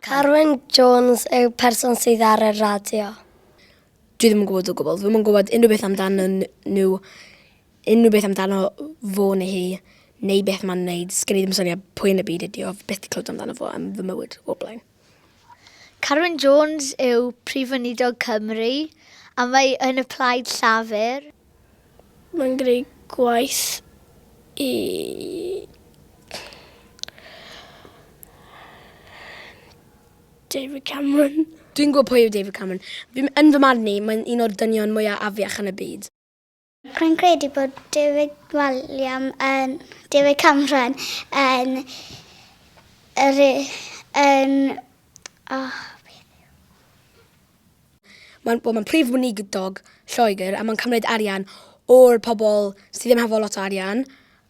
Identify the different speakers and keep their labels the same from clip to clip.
Speaker 1: Carwyn Jones yw person sydd ar y radio. Dwi ddim yn gwybod o gwbl. Dwi'm yn gwybod unrhyw beth amdano nhw, unrhyw beth amdano fo neu hi, neu beth ma'n neud. Sgen i ddim syniad pwy yn y byd ydi o, byth 'di clywed amdano fo yn fy mywyd o'r blaen. Carwyn Jones yw Prif Weinidog Cymru a mae yn y Plaid Llafur. Mae'n gwneud gwaith i David Cameron. Dwi'n gwybod pwy yw David Cameron. Yn fy marn i, mae'n un o'r dynion mwyaf afiach yn y byd. Rwy'n credu bod David Walliam yn David Cameron yn yr yn oh, Mae'n well, ma prif weinidog Lloegr a mae'n cymryd arian o'r pobl sydd ddim hefo lot o arian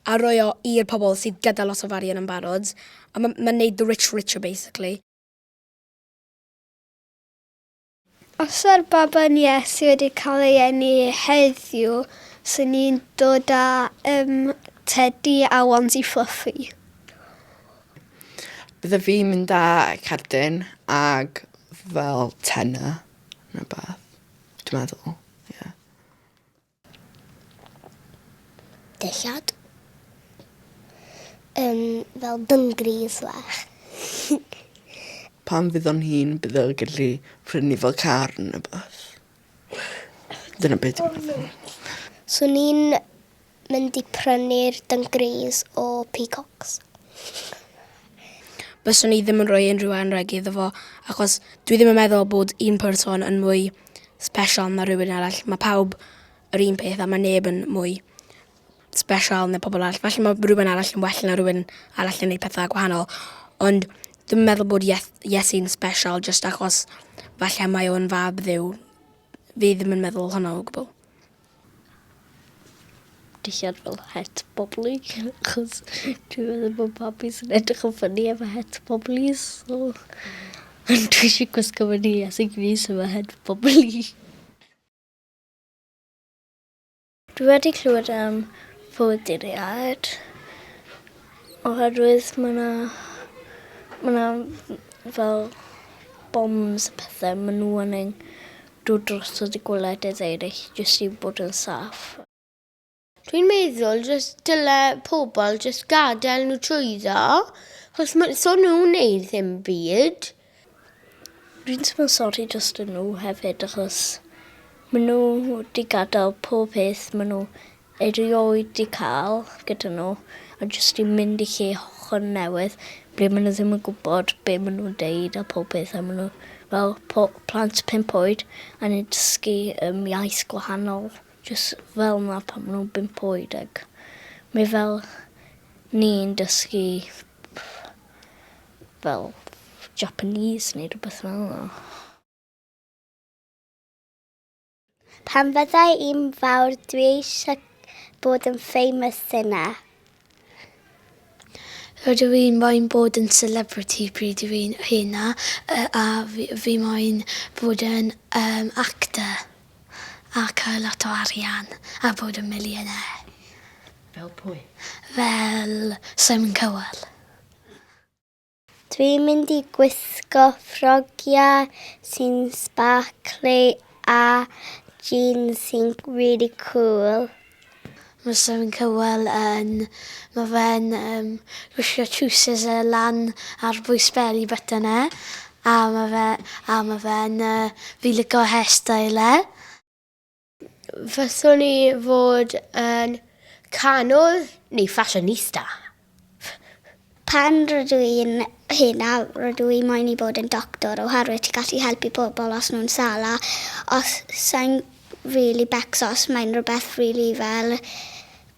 Speaker 1: a rhoi o i'r pobl sydd gyda lot o arian yn barod a mae'n ma neud the rich richer basically. Os yw'r baban Iesu wedi cael ei eni heddiw, sy'n ni'n dod â um, tedi a wands i Fluffy? Bydde fi'n mynd â cerdyn ag fel tenor neu beth, dwi'n meddwl. dillad. Um, fel dyngris fach. Pan fydd o'n hun, bydd o'n gallu prynu fel car yn y bus. Dyna beth dwi'n meddwl. So ni'n mynd i prynu'r dyngris o peacocks. Byswn i ddim yn rhoi unrhyw anreg iddo fo, achos dwi ddim yn meddwl bod un person yn mwy special na rhywun arall. Mae pawb yr un peth a mae neb yn mwy special na pobl arall. Felly mae rhywun arall yn well na rhywun arall yn ei pethau gwahanol. Ond dwi'n meddwl bod Iesu'n special jyst achos falle mae o'n fab dduw. Fi ddim yn meddwl hwnna o gwbl. dillad fel het bobli achos dwi meddwl bod babis yn edrych yn ffynnu efo het bobli so ond dwi eisiau gwisgo fy nhŷ a sut fys efo het bobli. Dwi wedi clywed am fywyd i'r iâd oherwydd ma' 'na ma' 'na fel bombs a pethe ma' n'w yn ein dod drosodd i gwledydd eraill jyst i bod yn saff. Dwi'n meddwl jyst dyle pobl jyst gadael nhw trwyddo, achos ma- so nhw'n neud ddim byd. Dwi'n teimlo sori drosto nhw hefyd achos ma' nhw 'di gadel pob peth ma' nhw erioed 'di cael gyda nhw, a jyst i mynd i lle hollol newydd ble maen nhw ddim yn gwybod be maen nhw'n deud a pob peth a maen nhw fel po- plant pump oed a ni'n dysgu um, iaith gwahanol jyst fel yna pan maen nhw'n bump oed ac mae fel ni'n dysgu fel Japanese neu rhywbeth fel yna. Pan fyddai i'n fawr dwi eisiau bod yn famous dyna. Rydw i'n moyn bod yn celebrity pryd dw i'n hŷn a a fi fi moyn bod yn um, actor a cael lot o arian a bod yn millionaire. Fel pwy? Fel Simon Cowell. Dwi'n mynd i gwisgo ffrogiau sy'n sbarcli a jeans sy'n really cool. Fysa fe'n cywel yn. Mae fe'n yym gwisgo trowsus yy lan ar bwys beli button e a ma' fe a ma' fe'n yy fi'n lico hairstyle e. Fyswn i fod yn canodd neu fashionista. Pan rydw i'n hŷn a rydw i moyn i bod yn doctor oherwydd ti'n gallu helpu pobl os nhw'n sâl a os sa'n rili becso os mae'n rhywbeth rili fel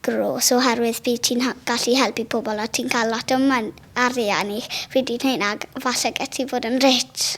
Speaker 1: grôs oherwydd bydd ti'n gallu helpu pobl a ti'n cael lot o mon- arian i fi di'n hŷn ac falle get ti fod yn rich.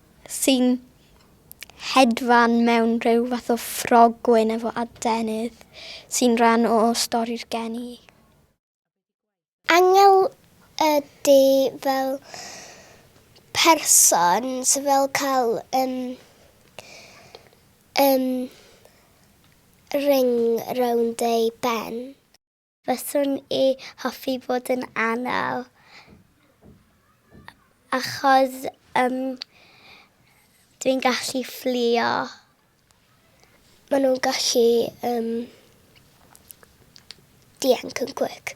Speaker 1: sy'n hedfan mewn rhyw fath o ffrog gwyn efo adenydd sy'n rhan o stori'r geni. Angel ydy fel person sy fel cael yym yym ring rownd ei ben. Fyswn i hoffi fod yn anal achos yym dwi'n gallu fflio. Ma nhw'n gallu yym dianc yn quick.